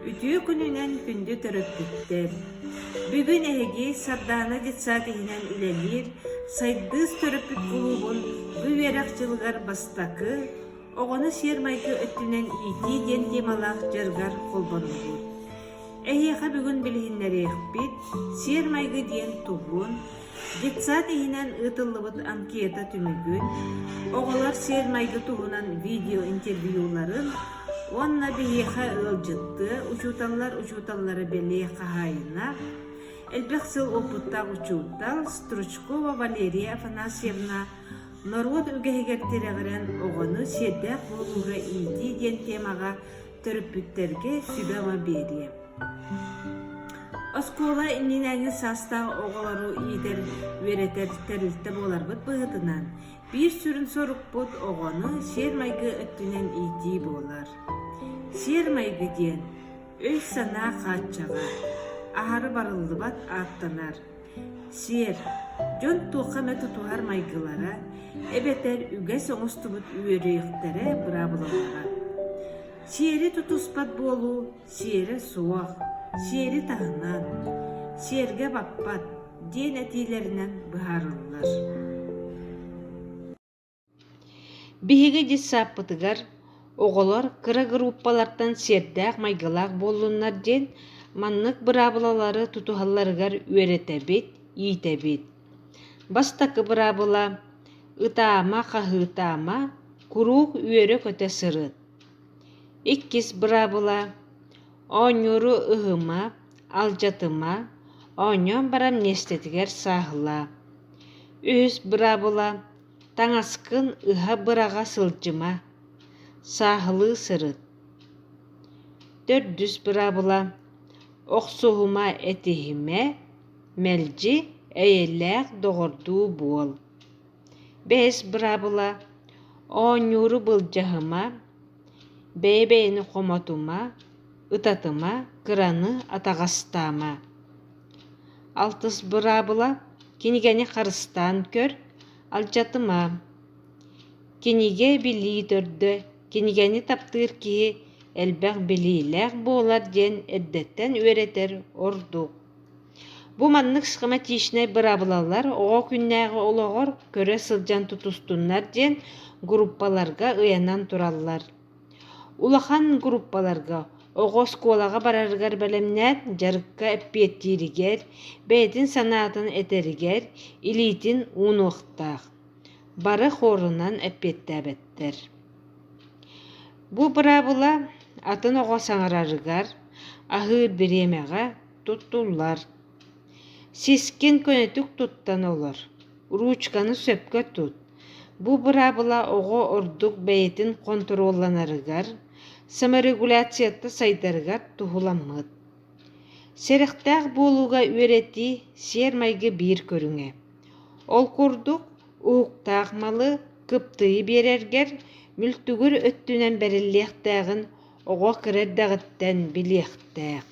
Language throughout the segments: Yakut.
Үтүө күнүнэн күндү төрөппүттэр! Бүгүн эһиги Сардаана детсадиһынан үлэлиир Сайдыыс төрөппүт кулуубун бу үөрэх дьылыгар бастакы, оҕону сиэр-майгы өттүнэн иитии диэн темалаах дьарыгар холбоннубут. Эһиэхэ бүгүн билиһиннэриэхпит сиэр-майгы диэн тугун, Детсад иһинэн ыытыллыбыт анкета түмүгүн, оҕолор сиэр-майгы туһунан видеоинтервьюларын уонна биһиэхэ ыалдьыттыы учууталлар учууталлара бэлиэ хаһаайына, элбэх сыл опыттаах учуутал Стручкова Валерия Афанасьевна норуот үгэһигэр тирэҕирэн оҕону сиэрдээх буолууга иитии диэн темаҕа Төрөппүттэргэ сүбэ-ама биэриэ. Оскуола иннинэ эҥин саастаах оҕолору иитэр, үөрэтэр тэрилтэ буоларбыт быһыытынан, биир сүрүн сорукпут оҕону сиэр-майгы өттүнэн иитии буолар. Сиэр-майгы диэн өй-санаа хааччаҕа, аһары барыллыбат ааттанар. Сиэр, дьон туохха эмэ тутуһар майгылара эбэтэр үгэс оҥостубут үөрүйэхтэрэ быраабылалара. Сиэри тутуспат буолуу сиэрэ суох, сиэри таһынан «сиэргэ баппат» диэн этиилэринэн быһаарыллар. Биһиги дьыссааппытыгар оҕолор кыра группалартан сиэрдээх-майгылаах буоллуннар диэн маннык быраабылалары тутуһалларыгар үөрэтэбит, иитэбит. Бастакы быраабыла ытаама, хаһыытаама, куруук үөрэ-көтө сырыт. Иккис быраабыла оонньууру ыһыма, алдьатыма, оонньоон баран миэстэтигэр сааһылаа. Үһүс быраабыла Таҥаскын ыһа быраҕа сылдьыма, сааһылыы сырыт. Төрдүс быраабыла охсуһума этиһимэ, мэлдьи эйэлээх доҕордуу буол. Бэс быраабыла оонньууру былдьаһыма, бэйэ-бэйэни хомотума ытатыма кыраны атаҕастаама алтыс быраабыла кинигэни харыстаан көр алдьатыма кинигэ билии төрдө кинигэни таптыыр киһи элбэх билиилээх буолар диэн эрдэттэн үөрэтэр ордук Бу маннык схематичнай быраабылалар оҕо күннээҕи олоҕор көрө сылдьан тутустуннар диэн группаларга ыйанан тураллар. Улахан группаларга оҕо оскуолаҕа барарыгар бэлэмнээн дьарыкка эппиэттииригэр, бэйэтин санаатын этэригэр илиитин уунуохтаах. Бары хоорунан эппиэттээбэттэр. Бу быраабыла атын оҕо саҥарарыгар, аһыыр бириэмэҕэ Туттуллар. Сискин көнөтүк туттан олор. Ручканы сөпкө тут. Бу быраабыла оҕо ордук бэйэтин хонтуруолланарыгар, саморегуляцияtta сайдарыгар туһуламмыт. Сэрэхтээх буолууга үөрэтии сиэр-майгы биир көрүҥэ. Ол курдук, уһуктаах малы кыптыйы биэрэргэр мүлтүгүр өттүнэн бэриллиэхтээҕин Оҕо кыра эрдэҕиттэн билиэхтээх,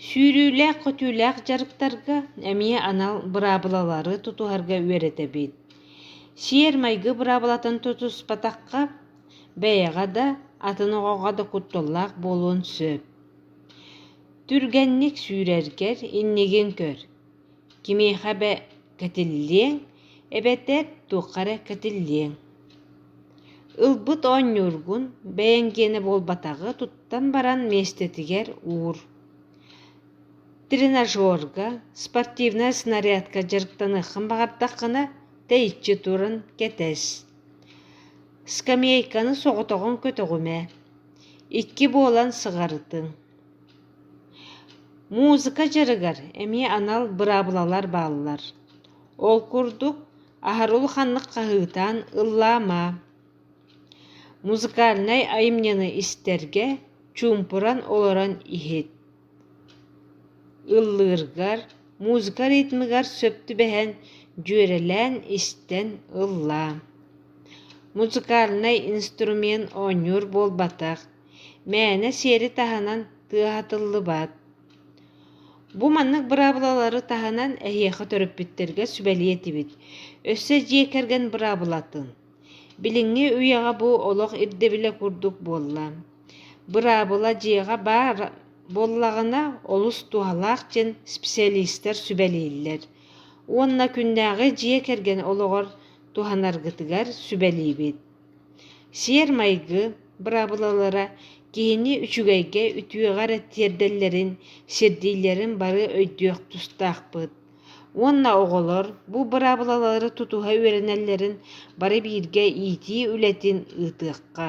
сүүрүүлээх-көтүүлээх дьарыктарга эмиэ анал быраабылалары тутуһарга үөрэтэбит. Сиэр-майгы быраабылатын тутуспатахха, бэйэҕэ да, атын оҕоҕо да кутталлаах буолуон сөп. Түргэнник сүүрэргэр иннигин көр Кимиэхэ эбэ кэтиллиэҥ, эбэтээт туохха эрэ кэтиллиэҥ Ылбыт оонньуургун бэйэҥ гиэнэ буолбатаҕы туттан баран миэстэтигэр уур. Тренажерга, спортивнай снарядка дьарыктаныаххын баҕардаххына, тэйиччи туран кэтэс. Скамейканы соҕотоҕун көтөҕүмэ. Икки буолан сыҕарытыҥ. Музыка дьарыгар эмиэ анал быраабылалар бааллар. Ол курдук, аһарылы ханнык хаһыытаан ыллаама. Музыкальнай айымньыны истэргэ чуумпуран олорон иһит. Ыллыыргар, музыка ритмыгар сөп түбэһэн, дьүөрэлээн истэн ыллаа. Музыкальнай инструмент оонньуур буолбатах. мээнэ сиэри таһынан тыа атыллыбат. Бу маннык быраабылалары таһынан эһиэхэ төрөппүттэргэ сүбэлиэтибит. Өссө дьиэ кэргэн быраабылатын. Билиҥҥи үйэҕэ бу олох ирдэбилэ курдук буолла. Быраабыла дьиэҕэ баар буоллаҕына олус туһалаах дьин специалистар сүбэлииллэр уонна күннээҕи дьиэ кэргэн олоҕор туһанаргытыгар сүбэлиибит Сиэр-майгы быраабылалара киһини үчүгэйгэ, үтүөҕэ эрэ тиэрдэллэрин, сирдииллэрин бары өйдүөх тустаахпыт. Уонна оҕолор бу быраабылалары тутуһа үөрэнэллэрин бары бииргэ иитии үлэтин ыытыахха.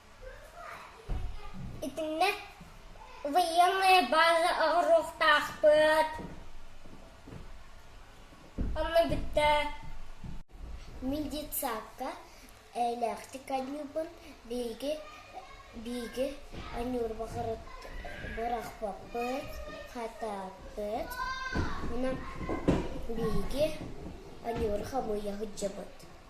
Итиннэ военная база оҕуруохтаахпыт онно бүттэ медицапка эйэлээхтик аньыыбын биһиги биһиги аньыырбахырыт бырахпаппыт хатааппыт онон биһиги аньыыры хамыйа сылдьабыт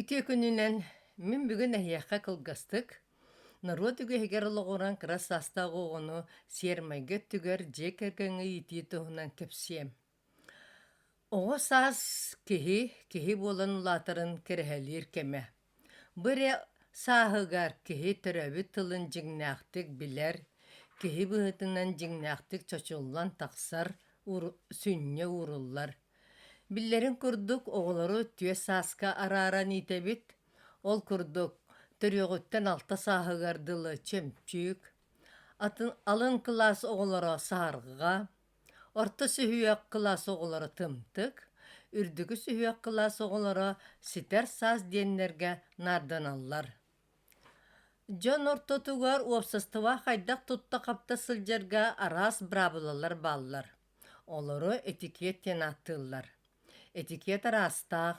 Итиэ күнүнэн мин бүгүн эһиэхэ кылгастык норуот үгэһигэр олоҕуран кыра саастаах оҕону сиэрмэйгэ өттүгэр дьиэ кэргэҥҥэ иитии туһунан кэпсиэм. Оҕо саас киһи, киһи буолан улаатарын кэрэһэлиир кэмэ. Бу эрэ сааһыгар киһи төрөөбүт тылын дьиҥнээхтик билэр, киһи быһыытынан дьиҥнээхтик чочуллан тахсар, сүнньэ ууруллар. Биллэрин курдук, оҕолору түөрт сааска арааран иитэбит. Ол курдук, төрүөҕүттэн алта сааһыгар дылы чөмчүүк, атын алын кылаас оҕолоро саарҕа, Орто сүһүөх кылаас оҕолоро тымтык, үрдүкү сүһүөх кылаас оҕолоро ситэр саас диэннэргэ наарданаллар. Дьон ортотугар уопсастыба хайдах-тутта-хапта сылдьарга араас быраабылалар бааллар. Олору этикет диэн ааттыыллар. Этикет араастаах,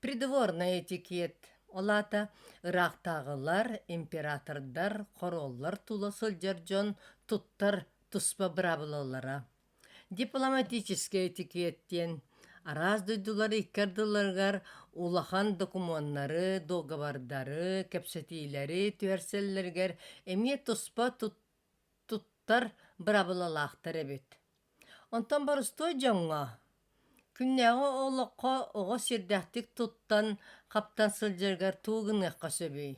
придворнай этикет, ол аата ыраахтааҕылар, императордар, хоруоллар тула сылдьар дьон туттар туспа быраабылалара дипломатическай этикет диэн араас дойдулар икки ардыларыгар улахан докумуоннары, договардары, кэпсэтиилэри түһэрсэллэригэр эмиэ туспа тут туттар быраабылалаахтар эбит. Онтон борустуой дьоҥҥо күннээҕи олоххо оҕо сирдээхтик туттан, хаптан сылдьарыгар тугу гыныахха сөбүй?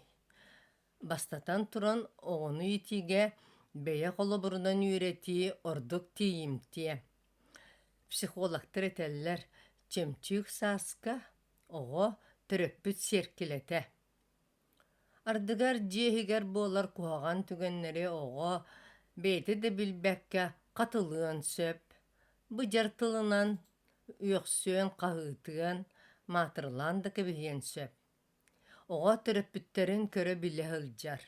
Бастатан туран, оҕону иитиигэ бэйэ холобурунан үөрэтии ордук тиийимтиэ. Психологтар этэллэр, чөмчүүк сааска оҕо төрөппүт сиэркилэтэ. Ардыгар дьиэ иһигэр буолар куһаҕан түгэннэри оҕо бэйэтэ да билбэккэ хатылыан сөп, быдьар тылынан үөхсүөн, хаһыытыан, маатырылаан да кэбиһиэн сөп. Оҕо төрөппүттэрин көрө-билэ сылдьар.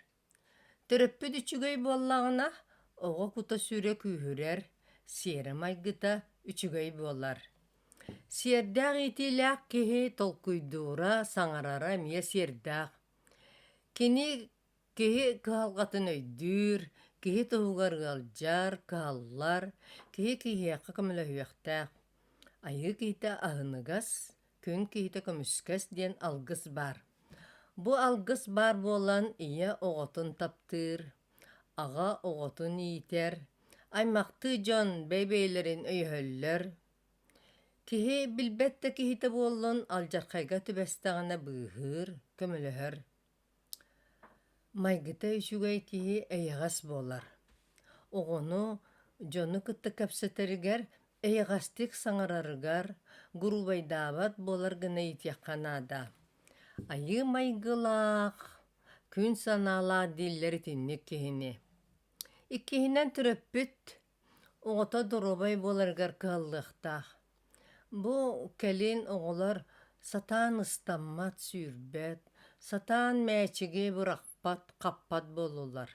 Төрөппүт үчүгэй буоллаҕына, оҕо кута-сүрэ күүһүрэр, сиэрэ-майгыта үчүгэй буолар. Сиэрдээх иитиилээх киһи толкуйдуура, саҥарара эмиэ сиэрдээх. Кини Киһи кыһалҕатын өйдүүр, киһи туһугар ыалдьар, кыһаллар, киһи киһиэхэ көмөлөһүөхтээх. Айыы киһитэ аһыныгас, күн киһитэ көмүскэс диэн алгыс баар. Бу алгыс баар буолан ийэ оҕотун таптыыр, аҕа оҕотун иитэр, аймахтыы дьон бэйэ-бэйэлэрин өйөһөллөр. Киһи билбэт да киһитэ буоллун алдьархайга түбэстэҕинэ быыһыыр, көмөлөһөр. Майгыта үчүгэй киһи эйэҕэс буолар. Оҕону, дьону кытта кэпсэтэригэр, эйэҕэстик саҥарарыгар, гуруубайдаабат буолар гына иитиэххэ наада. Айыы майгылаах, күн санаалаах дииллэр итинник киһини. Иккиһинэн төрөппүт оҕото доруобай буоларыгар кыһаллыахтаах. Бу кэлин оҕолор сатаан ыстаммат, сүүрбэт, сатаан мээчиги бырахпат, хаппат буоллулар.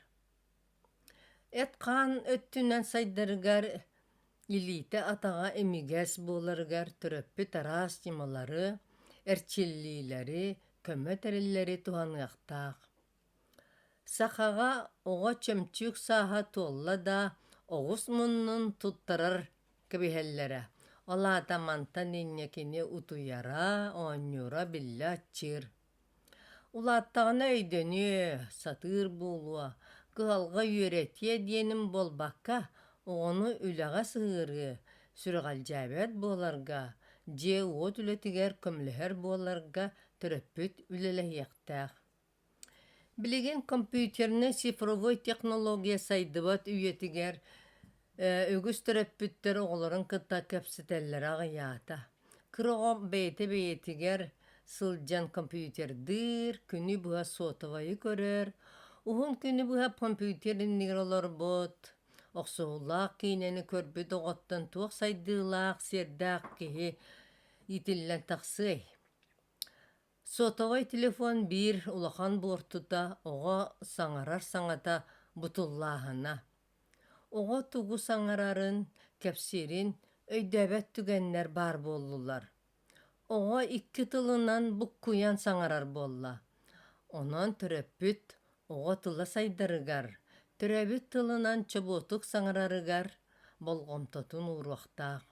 Эт-хаан өттүнэн сайдарыгар, илиитэ-атаҕа имигэс буоларыгар төрөппүт араас ньымалары, эрчиллиилэри, көмө тэриллэри туһаныахтаах. Сахаҕа оҕо чөмчүүк сааһа туолла да оҕус муннун туттарар кэбиһэллэрэ, ол аата мантан инньэ кини утуйара, оонньуура биллэ аччыыр. Улааттаҕына өйдөнүө, сатыыр буолуо, кыһалҕа үөрэтиэ диэнин буолбакка, оҕону үлэҕэ сыһыарыы, сүрэҕэлдьээбэт буоларга, дьиэ-уот үлэтигэр көмөлөһөр буоларга төрөппүт үлэлэһиэхтээх. Билигин компьютернай цифровой технология сайдыбат үйэтигэр үгүс төрөппүттэр оҕолорун кытта кэпсэтэллэрэ аҕыйаата. Кыра оҕо бэйэтэ-бэйэтигэр сылдьан компьютердыыр, күнү быһа сотовайы көрөр, уһун күнү быһа компьютер иннигэр олорбут, охсуһуулаах киинэни көрбүт оҕоттон туох сайдыылаах, сиэрдээх киһи иитиллэн тахсыай? Сотовай телефон биир улахан буортута оҕо саҥарар саҥата бутуллааһына. Оҕо тугу саҥарарын, кэпсиирин өйдөөбөт түгэннэр баар буоллулар. Оҕо икки тылынан буккуйан саҥарар буолла. Онон төрөппүт оҕо тыла сайдарыгар, төрөөбүт тылынан чобуотук саҥарарыгар болҕомтотун ууруохтаах.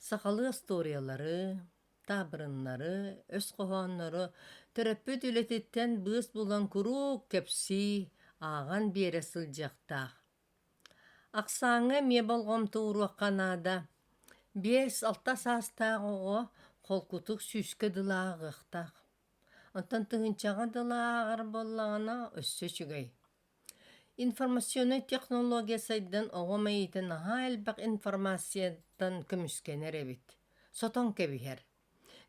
Сахалыы остуоруйалары, таабырыннары, өс хоһооннору төрөппүт үлэтиттэн быыс булан куруук кэпсии, ааҕан биэрэ сылдьыахтаах. Ахсааҥҥа эмиэ болҕомто ууруохха наада. Биэс-алта саастаах оҕо холкутук сүүскэ дылы ааҕыахтаах. Онтон тыһыынчаҕа дылы ааҕар буоллаҕына өссө үчүгэй. Информационнай технология сайдан оҕо мэйиитэ наһаа элбэх информацияттан көмүскэнэр эбит, сотон кэбиһэр.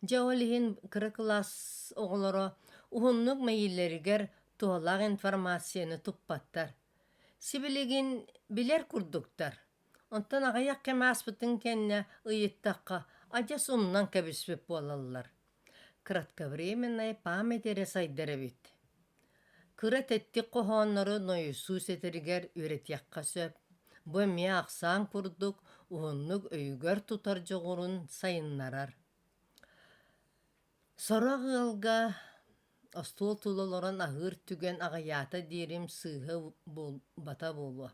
Дьэ ол иһин кыра кылаас оҕолоро уһуннук мэйиилэригэр туһалаах информацияны туппаттар. Сибилигин билэр курдуктар. Онтон аҕыйах кэм ааспытын кэннэ ыйыттахха адьас умнан кэбиспит буолаллар. кратковременная память эрэ сайдар эбит кыра тэттик хоһооннору нойосуу сэтэригэр үөрэтиэххэ сөп бу эмиэ ахсаан курдук уһуннук өйүгэр тутар дьоҕурун сайыннарар сорох ыалга остуол тула олорон аһыыр түгэн аҕыйаата диэрим сыыһа буолбата буолуо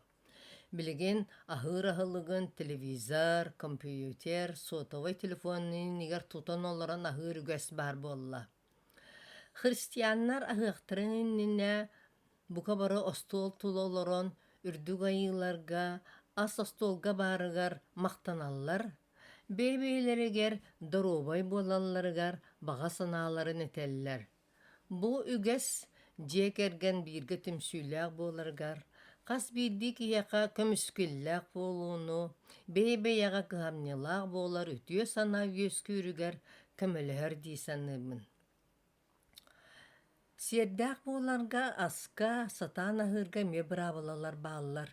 Билигин аһыыр аһылыгын телевизор, компьютер, сотовай телефонун иннигэр тутан олорон аһыыр үгэс баар буолла. Христианнар аһыахтарын иннинэ бука бары остуол тула олорон үрдүк айыыларга, ас остуолга баарыгар махтаналлар, бэйэ-бэйэлэригэр доруобай буолалларыгар баҕа санааларын этэллэр. Бу үгэс дьиэ кэргэн бииргэ түмсүүлээх буоларыгар, хас биирдии киһиэхэ көмүскүллээх буолууну, бэйэ-бэйэҕэ кыһамньылаах буолар үтүө санаа үөскүүрүгэр көмөлөһөр дии саныыбын. Сиэрдээх буоларга аска, сатаан аһыырга эмиэ быраабылалар бааллар.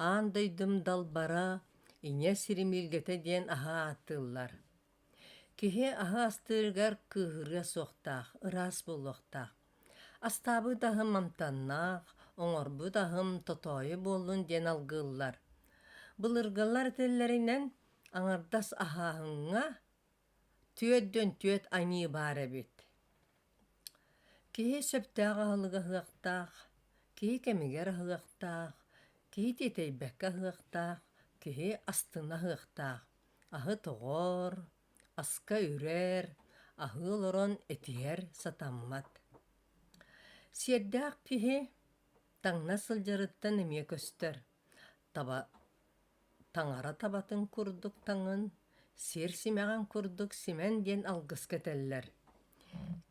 Аан дойдум далбара, Ийэ сирим ииргэтэ диэн аһа ааттыыллар. Киһи аһы астыырыгар кыыһырыа суохтаах, ыраас буолуохтаах. Астаабыт аһым амтаннаах, оҥорбут аһым тотоойу буоллун диэн алгыыллар. Былыргылар этэллэринэн, аҥардас аһааһыҥҥа түөрдөн түөрт аньыы баар эбит. Киһи сөптөөх аһылык аһыахтаах, киһи кэмигэр аһыахтаах, киһи тиэтэйбэккэ аһыахтаах, киһи астына аһыахтаах. Аһы тоҕоор, аска үрээр, аһыы олорон этиһэр сатаммат. Сиэрдээх киһи таҥна сылдьарыттан эмиэ көстөр. Таба таҥара табатын курдук таҥын, сиэр симэҕин курдук симэн диэн алгыска этэллэр.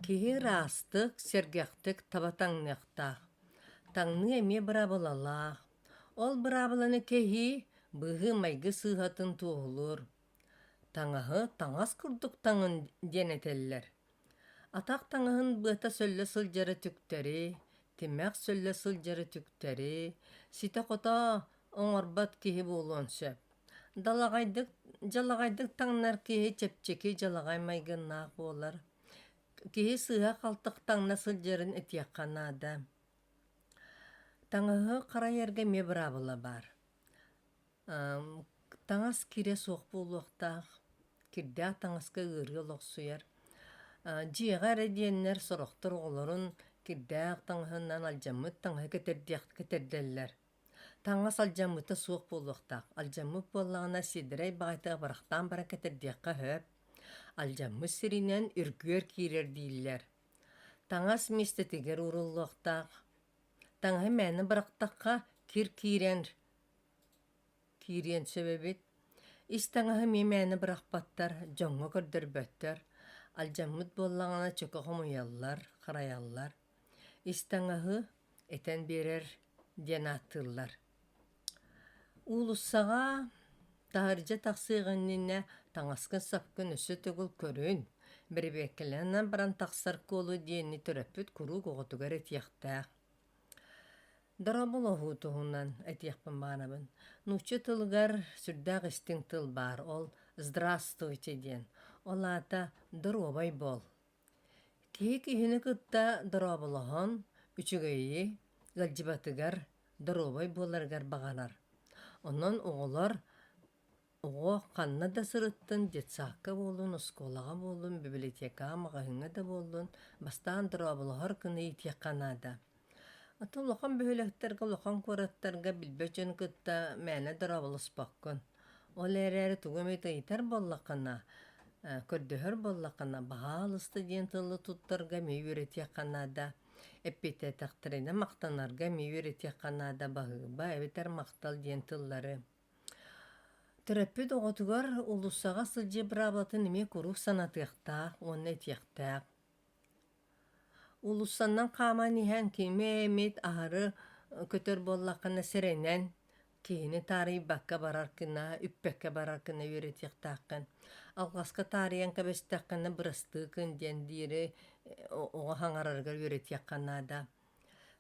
Киһи ыраастык, сэргэхтик таба таҥныахтаах. Таҥныы эмиэ быраабылалаах. Ол быраабыланы кэһии быһыы-майгы сыыһатын туоһулуур. Таҥаһы таҥас курдук таҥын диэн этэллэр. Атах таҥаһын быата сөллө сылдьара түктэри, тимэх сөллө сылдьара түктэри, ситэ-хото оҥорбот киһи буолуон сөп. Далаҕайдык, дьалаҕайдык таҥнар киһи чэпчэки дьалаҕай майгыннаах буолар. Киһи сыыһа-халты таҥна сылдьарын этиэххэ наада. Таҥаһы харайарга эмиэ быраабыла баар. Таҥас кирэ суох буолуохтаах, кирдээх таҥаска ыарыы олохсуйар. Дьиэҕэ эрэ диэннэр сорохтор оҕолорун кирдээх таҥаһынан алдьаммыт таҥаһы кэтэрдэллэр. Таҥас алдьаммыта суох буолуохтаах. Алдьаммыт буоллаҕына сиэдэрэй баҕайытык барахтаан баран кэтэрдиэххэ сөп. Алдьаммыт сиринэн үргүөр киирэр дииллэр. Таҥас миэстэтигэр ууруллуохтаах. Таҥаһы мээнэ бырахтахха кир киирэн киириэн сөп эбит. Ис таҥаһы эмиэ мээнэ бырахпаттар, дьоҥҥо көрдөрбөттөр. Алдьаммыт буоллаҕына чөкө хомуйаллар, харайаллар. Ис таҥаһы этэн биэрэр диэн ааттыыллар Уулуссаҕа таһырдьа тахсыах иннинэ таҥаскын-сапкын өссө төгүл көрүн, бэрэбиэркэлэнэн баран тахсар куолу диэни төрөппүт куруук оҕотугар этиэхтээх. Доробулоһуу туһунан этиэхпин баҕарабын. Нуучча тылыгар сүрдээх истиҥ тыл баар, ол «здравствуйте» диэн. Ол аата «доруобай буол». Киһи киһини кытта дорооболоһон, үчүгэйи ыалдьыбатыгар, доруобай буоларыгар баҕарар. Онон оҕолор оҕо ханна да сырыттын, детсадка буоллун, оскуолаҕа буоллун, бибилэтиэкэҕэ, маҕаһыыҥҥа да буоллун, бастаан дорооболоһор гына иитиэххэ наада. Ата улахан бөһүөлэктэргэ, улахан куораттарга билбэт дьону кытта мээнэ дорооболоспоккун. Ол эрээри тугу эмэ ыйытар буоллаххына, көрдөһөр буоллаххына, «Баһаалыста» диэн тылы туттарга эмиэ үөрэтиэххэ наада. Эппиэтээтэхтэринэ махтанарга эмиэ үөрэтиэххэ наада баһыыба эбэтэр махтал диэн тыллары. Төрөппүт оҕотугар уулуссаҕа сылдьыы быраабылатын эмиэ куруук санатыахтаах уонна этиэхтээх. Уулуссаннан хааман иһэн кими эмит аһары көтөр буоллаххына сэрэнэн киһини таарыйбакка барар гына үппэккэ барар гына үөрэтиэхтээххин. Алҕаска таарыйан кэбистэххинэ бырастыы гын диэн диэри оҕо хаҥарарыгар үөрэтиэххэ наада.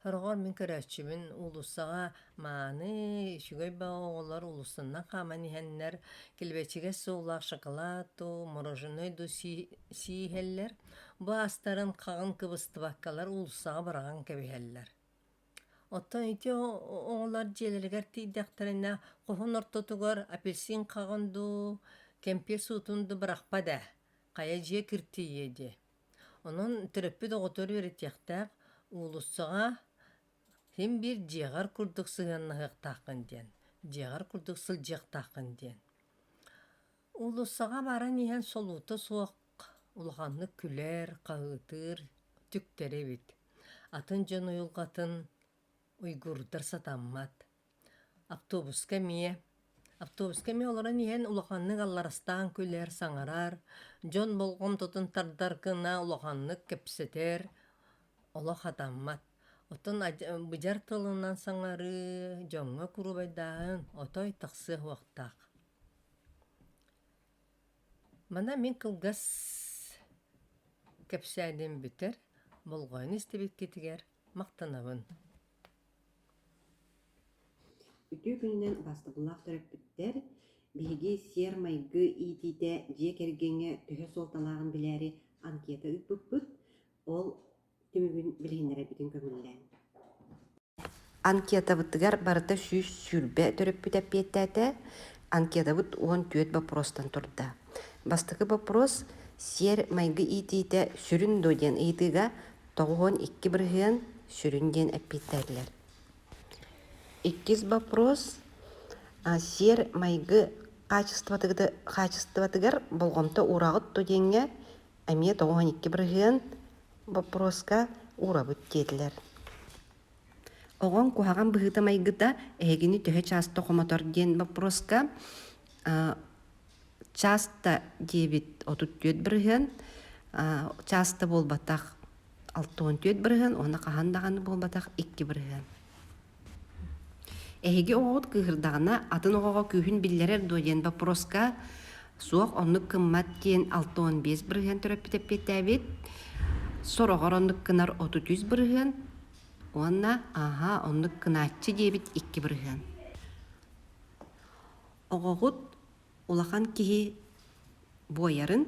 Ороҕор мин көрөөччүбүн уулуссаҕа мааны, үчүгэй баҕа оҕолор уулуссанан хааман иһэннэр, килбэчигэс суоллаах шоколад дуу, мороженое дуу сии иһэллэр. Бу аастарын хаҕын кыбыстыбаккалар уулуссаҕа быраҕан кэбиһэллэр. Оттон ити оҕолор дьиэлэригэр тиийдэхтэринэ хоһун ортотугар апельсин хаҕын дуу, кэмпиэр суутун дуу бырахпат ээ, хайа дьиэ киртийиэ дии Онон төрөппүт оҕотугар үөрэтиэхтээх, уулуссаҕа син биир дьиэҕэр курдук сыһыаннаһыахтааххын диэн, дьиэҕэр курдук сылдьыахтааххын диэн. Уулуссаҕа баран иһэн солуута суох улаханнык күлэр, хаһыытыыр, түктэр эбит. Атын дьон уйулҕатын уйгурдар сатаммат. Автобуска эмиэ. Автобуска эмиэ олорон иһэн улаханнык алларастаан күлэр, саҥарар, дьон болҕомтотун тардар гына улаханнык кэпсэтэр. Олох атаммат. Оттон быдьар тылынан саҥарыы, дьоҥҥо куруубайдааһын отой тахсыа уохтаах. Мана мин кылгас кэпсээним бүтэр. Болҕойон истибиккитигэр махтанабын Үтүө күнүнэн бастакылаах төрөппүттэр, биһиги сиэр-майгы иитиитэ дьиэ кэргэҥҥэ төһө суолталааҕын билээри анкета ыыппыппыт. Ол түмүгүн билиһиннэрэбитин көҥүллээн. Анкетабытыгар барыта сүүс сүүрбэ төрөппүт эппиэттээтэ. Анкетабыт уон түөрт боппуруостан турда. Бастакы боппуруос сиэр-майгы иитиитэ сүрүн дуо диэн ыйытыыга тоҕуһун икки бырыһыан сүрүн диэн эппиэттээтилэр. Иккис боппуруос сиэр майгы хаачыстыбатыгар болҕомто уурааҕыт ту диэҥҥэ эмиэ тоҕуһун икки бырыһыан боппуруоска уурабыт диэтилэр. Оҕоҥ куһаҕан быһыыта-майгыта эһигини төһө чааста хомотор диэн боппуруоска часто диэбит отут түөрт бырыһыан часто буолбатах алта он түөрт бырыһыан уонна хаһан даҕаны буолбатах икки бырыһыан эһиги оҕоҕут кыыһырдаҕына атын оҕоҕо күүһүн биллэрэр дуо диэн боппуруоска суох оннук кыммат диэн алта он биэс бырыһыан төрөппүт эппиэттээбит сороҕор оннук кынар отут үс бырыһыан уонна аһаа оннук кынааччы диэбит икки бырыһыан оҕоҕут улахан киһи буойарын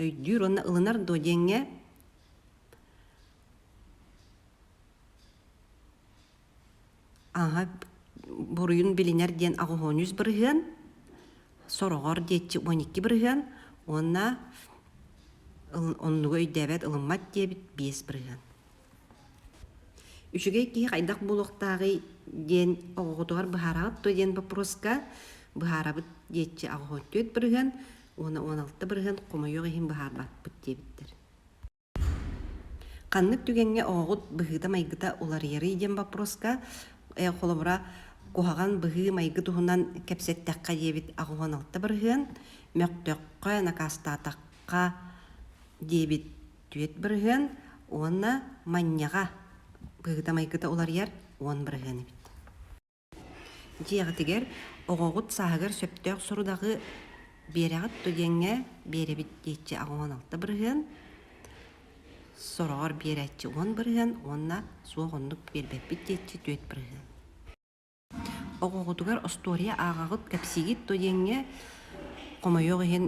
өйдүүр уонна ылынар дуо диэҥҥэ ааһа буруйун билинэр диэн аҕыһооньус бырыһыан сороҕор диэччи уон икки бырыһыан уонна оннуга өйдөөбөт ылыммат диэбит биэс бырыһыан Үчүгэй киһи хайдах буолуохтааҕый диэн оҕоҕутугар быһаараҕыт дуо диэн боппуруоска быһаарабыт диэччи аҕа төрүт бырыһыан уонна уон алта бырыһыан хомойуох иһин быһаарбатпыт диэбиттэр. Ханнык түгэҥҥэ оҕоҕут быһыыта-майгыта уларыйарый диэн боппуруоска холобура куһаҕан быһыы-майгы туһунан кэпсэттэххэ диэбит аҕа уон алта бырыһыан мөхтөххө накаастаатахха диэбит Түөрт бырыһыан уонна манньаҕа быһыыта-майгыта уларыйар уон бырыһыан эбит. Дьиэҕитигэр оҕоҕут сааһыгар сөптөөх сорудаҕы биэрэҕит дуо диэҥҥэ биэрэбит диэччи аҕа уон алта бырыһыан, сороҕор биэрээччи уон бырыһыан уонна суох оннук биэрбэппит диэччи түөрт бырыһыан. Оҕоҕутугар остуоруйа ааҕаҕыт, кэпсиигит дуо диэҥҥэ, хомойуох иһин,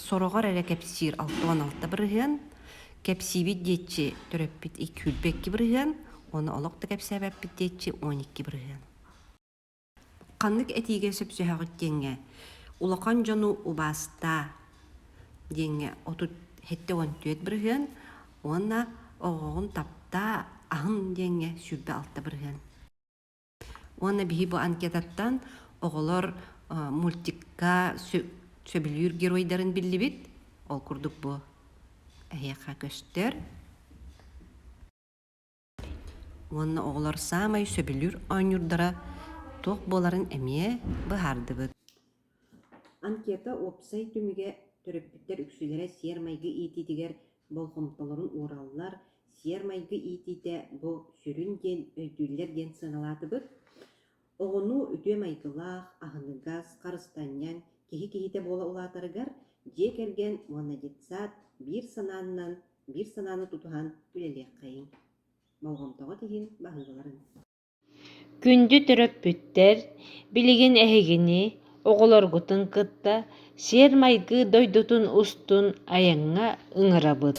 сороҕор эрэ кэпсиир алта уон алта бырыһыан, кэпсиибит диэччи төрөппүт күүлбэ икки бырыһыан, уонна олох да кэпсээбэппит диэччи он икки бырыһыан. Ханнык этиигэ сөпсөһөҕүт диэҥҥэ улахан дьону убаастаа диэҥҥэ отут сэттэ уон түөрт бырыһыан, Уонна оҕоҕун таптаа, аһын диэҥҥэ сүүрбэ-алта бырыһыан. Уонна биһи бу анкетаттан оҕолор мультикка сөбүлүүр геройдарын биллибит. Ол курдук бу эһиэхэ көстөр. уонна оҕолор саамай сөбүлүүр оонньуурдара туох буоларын эмиэ быһаардыбыт. Анкета уопсай түмүгэ төрөппүттэр үксүлэрэ сиэр-майгы иитиитигэр болҕомтолорун уураллар. Сиэр-майгы иитиитэ бу сүрүн диэн өйдүүллэр диэн сыаналаатыбыт. Оҕону үтүө майгылаах, аһыныгас, харыстанньаҥ киһи киһитэ буола улаатарыгар дьиэ кэргэн уонна детсад биир санаанынан биир санааны тутуһан үлэлиэххэйиҥ, болҕомтоҕут иһин баһыыларын Күндү төрөппүттэр, билигин эһигини, оҕолоргутун кытта сиэр-майгы дойдутун устун айаҥҥа ыҥырабыт.